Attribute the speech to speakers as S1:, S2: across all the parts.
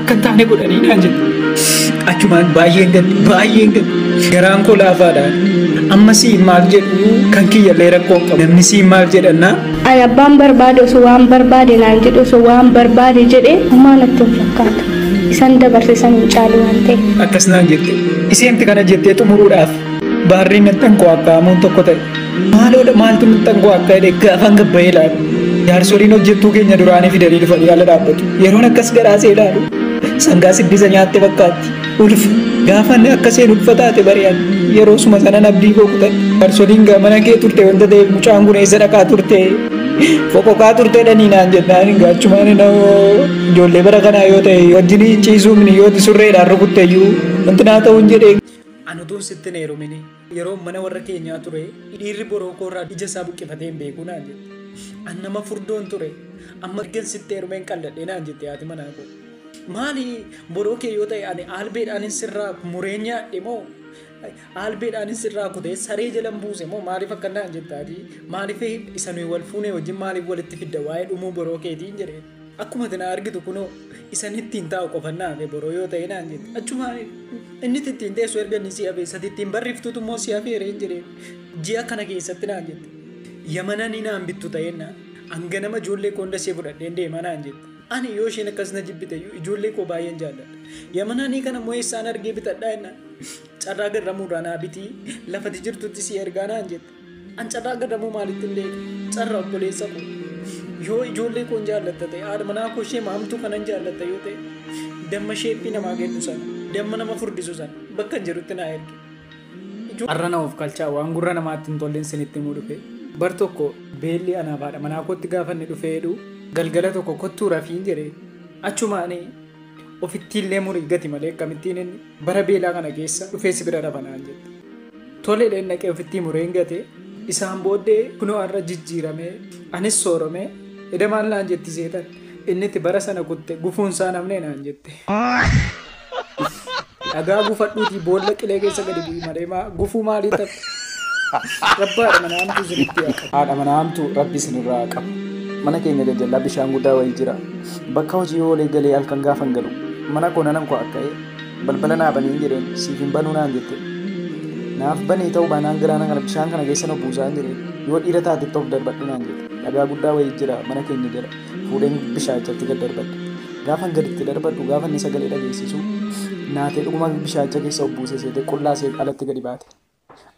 S1: akka hin taane godhanii naan jedhe. Achumaan baay'een gadde baay'een gadde garaan koo laafaadha. Amma siin maal jedhu kan kiyyallee rakkoo hin qabu. Namni siin maal jedhannaa Ani abbaan
S2: barbaade osoo waan barbaade naan jedhe osoo waan barbaade jedhe homaa natti hin fakkaatu. Isan dabarse san hin caalu waan ta'e. akkas naan jette.
S1: Isheenti kana jettee xumuruudhaaf Baarrii maxxan koo akka hamuun tokko ta'e. Maaloodha maaltu maxxan koo akka jedhe gaafan gabbayee ilaalu. Jaarsoliin hojjettuu keenya duraanii fidanii dhufanii ala dhaabbatu. Yeroon akkas garaasee ilaalu. Sangaa siddisa nyaatte fakkaatti. Ulfi gaafan akka seen ulfa taate bari'an. Yeroo suma sanan abdii koo kutan. Jaarsoliin gaa mana kee turte wanta ta'eef mucaan kun eessa dhaqaa turte. Foqoqaa turte dhanii naan jennaan gaachumaan na'oo. Ijoollee bara kanaa yoo ta'e wajjin ciisuun yoo surreedhaan rukutteyyuu wanti naa ta'uun jedhee An utuun sitti hin heerumini yeroon mana warra keenyaa ture dhiirri boroo koorraa ija isaa buqqifatee hin beeku naan jette. An nama furdoon ture amma ergan sitti heerumeen qalladhe naan jette haati manaa koo. Maali boroo kee yoo ta'e ani aalbeedhaanin sirraa muree nyaadhe moo aalbeedhaanin sirraa kutee saree jalan buuse moo maaliif akka naan jetta ati maaliif isa nuyi wal fuunee wajjin maaliif walitti fidda waa'ee dhumuu boroo keetiin jedhee. Akkuma ati na argitu kunoo isan ittiin taa'u qofan na hafe boroo yoo ta'e naan jette. Achuma inni ittiin teessu erga inni si hafe isati ittiin barreeftuutu immoo si hafeera hin jedhee ji'a kana keessatti naan jette. Yamananii naan bittu ta'een naan hanga nama ijoollee koo hunda ishee fudhadheen deemaa naan jette. Ani yoo isheen akkas na jibbite iyyuu ijoollee koo baay'een jaalladha. Yamananii kana immoo eessaan argee bitadhaa jennaan carraa garramuurraa naa bitii lafati jirtutti si ergaa naan jette. An carraa gadamuu maalitti hin beeku? Carra obboleessa koo. Yoo ijoollee koon jaallatta ta'e, haadha manaa koo ishee maamtuu kanan jaallatta yoo ta'e, damma sheeppii namaa kennu sana, damma nama furdisu sana bakka hin jirutti naa erge. Arra na of kalchaa waan gurra namaatti hin tolleen sinitti himuu dhufe. Bar tokko beelli anaaf haadha manaa kootti gaafanni dhufee jedhu galgala tokko kottuu rafiin jedhe. Achumaanii Ofittiillee murii gati malee akkamittiin inni bara beelaa kana keessa dhufee si bira rafa naan jette. Toleedheen dhaqee ofittii mureen gate isaan booddee kunoo har'a jijjiiramee anis sooromee eda maal naan jetti seexan inni itti bara sana kutte gufuun isaa namnee naan jette. Dhagaa gufadhuutii boolla qilee keessa gadi bu'i malee maa gufuu maalii ta'a? Rabbaadha mana hamtuu isinitti haa qabu. Haadha mana hamtuu rabbi isinirraa haa qabu. Mana keenya jajjallaa bishaan guddaa wayii jira. Bakka hojii oolee galee halkan gaafan galu. Mana koo nanan koo akka'ee balbala naa baniin jedheen siif hin banuu naan jette. Naaf banii ta'uu baanaan galaana kana bishaan kana keessa na buusaan jedheen yoo dhiira taatetti of darbadhu naan jette. Dhagaa guddaa wayii jira mana keenya jala. fuudheen bishaachatti gad darbadhe. Gaafan gaditti darbadhu gaafa inni sagalee dhageessisu naatee dhuguma bishaacha keessa obbuusee seete qullaa seet alatti gadi baate.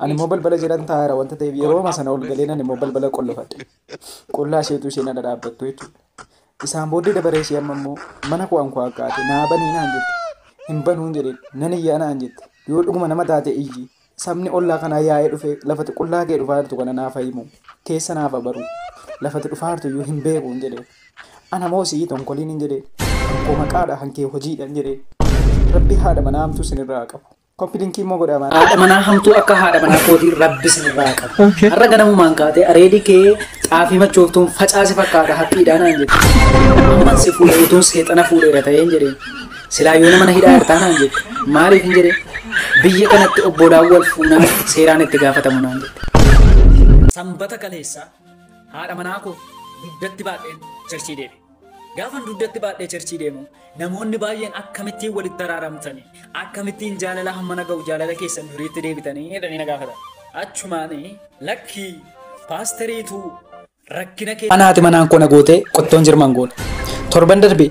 S1: Ani immoo balbala jedhan taa'eera wanta ta'eef yerooma sana ol galeen ani immoo balbala qollofadhe. Qullaa isheetu isheen ala dhaabbattu jechuudha. Isaan booddee dabaree ishee amma immoo mana koo ankoo akkaate naa banii naan jette. Hin banuun jedheen nan iyyaa naan jette. Yoo dhuguma nama taate iyyi Sabni ollaa kanaa yaa'ee dhufee lafati qullaa kee dhufaa jirtu kana naaf himu, keessa naaf haa baru, lafati dhufaa jirtu iyyuu hin beeku hin jedheen. Ana moo si'i tonkoliin hin jedheen. Kan koo maqaadha kan kee hojiidha hin jedheen. Rabbi haadha manaa hamtuu isin irraa haa qabu. Copy linkii immoo godhaa maal. Haadha manaa hamtuu akka haadha manaa kootii rabbi isinirraa haa qabu. Har'a ganamumaan kaatee areedi kee xaafii machooftuun facaase fakkaata haphiidhaa naan jette. Amman si fuudhe utuun seexana fuudheera ta'een jedheen. Silaa yoona mana hidhaa irtaa naan jette. Maaliif hin jedhee? Biyya kanatti obbolaan wal fuunaan seeraan itti gaafatamu naan jette. Sanbata kaleessaa haadha manaa koo dugdatti baadheen cherchii deeme. Gaafan dugdatti baadhee cherchii deemu namoonni baay'een akkamittiin walitti araaramtanii akkamittiin jaalala hammana ga'u jaalala keessan duriitti deebitanii jedhanii na gaafatan. Achumaanii lakkii paasteriituu Rakkina kee. Mana haati manaan koo na gootee qottoon jirman goone. Torban darbe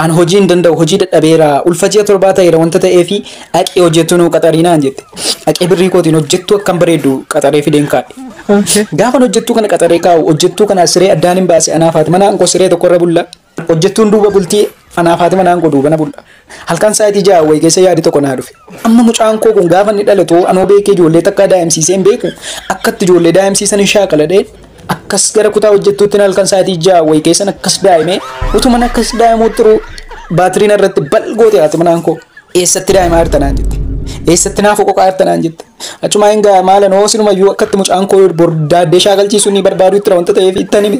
S1: an hojii hin danda'u hojii dadhabeera ulfa ji'a torbaa ta'eera wanta ta'eefi dhaqee hojjettuu nuu qaxarii naan jette. Dhaqee birrii kootiin hojjettuu akkan bareeddu qaxaree fideen kaa'e. Gaafan hojjettuu kana qaxaree kaa'u hojjettuu kana siree addaan hin baase anaaf haati manaan koo siree tokkorra bulla. Hojjettuun duuba bultii anaa Faatima naan godhuu bana bulla. Halkan sa'aatii ja'a wayi keessa yaadi tokko naa dhufe. Amma mucaan koo kun gaafa inni dhalatu anoo beekee ijoollee takkaa daa'imsiisee hin beeku akkatti ijoollee daa'imsiisan hin shaakaladhee akkas gara kutaa hojjettuutti halkan sa'aatii ja'a wayi keessan akkas daa'imee utuman akkas daa'imuu turuu baatiriin irratti balgoote haati manaan koo eessatti daa'imaa jirta naan jette. Eessatti naaf qoqaa jirta naan jette. Achumaa hin ga'a maalan hoo sinumayyuu akkatti mucaan koo bordaaddee shaakalchiisuu ni barbaadu itti wanta ta'eef itti anime.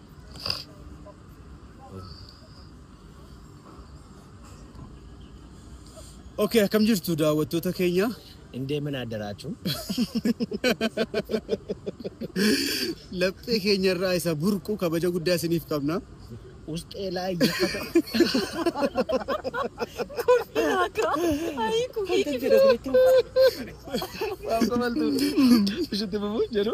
S3: Okay, akkam jirtu daawwattoota keenya? Hin deemin
S4: addaraachuu.
S3: Laphee keenya irraa isa burqu kabaja guddaa isiniif qabna. Usxee
S4: laa iyyafata. Waan kabaltu. Ishitti bubuu jedhu.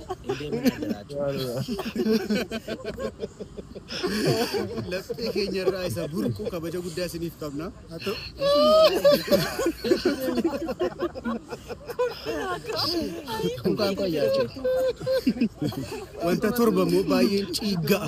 S3: Hin deemin addaraa jechuudha. Laphee keenya irraa isa burqu kabaja guddaa isiniif qabna.
S4: Kunkaan koo yaadde.
S3: Wanta torba immoo baay'een ciigga'a.